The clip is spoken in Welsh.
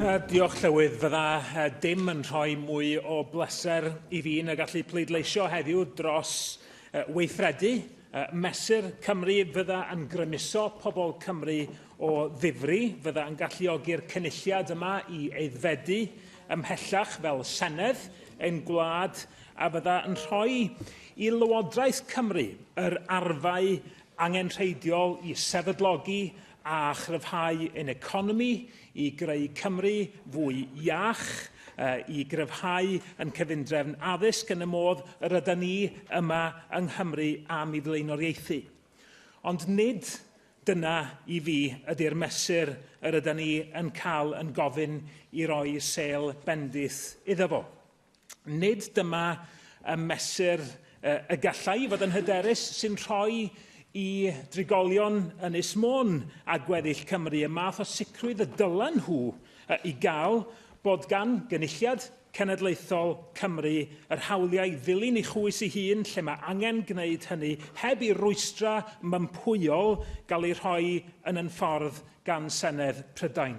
Uh, diolch, Llywydd. Fydda uh, dim yn rhoi mwy o bleser i fi na gallu pleidleisio heddiw dros uh, weithredu uh, mesur Cymru fydda yn grymuso pobl Cymru o ddifri, fydda yn galluogi'r cynulliad yma i eiddfedu ymhellach fel Senedd ein gwlad a fydda yn rhoi i Lywodraeth Cymru yr arfau angenrheidiol i sefydlogi a chryfhau ein economi i greu Cymru fwy iach, i gryfhau yn cyfundrefn addysg yn y modd yr yda ni yma yng Nghymru am i flaenoriaethu. Ond nid dyna i fi ydy'r mesur yr yda ni yn cael yn gofyn i roi sêl bendith iddo fo. Nid dyma y mesur y gallai fod yn hyderus sy'n rhoi i drigolion Ynys Môn a gweddill Cymru y math o sicrwydd y dylen nhw i gael bod gan gynulliad cenedlaethol Cymru yr hawliau i ddilyn ei chwys ei hun lle mae angen gwneud hynny heb i'r rwystra mympwyol gael eu rhoi yn yn ffordd gan Senedd Prydain.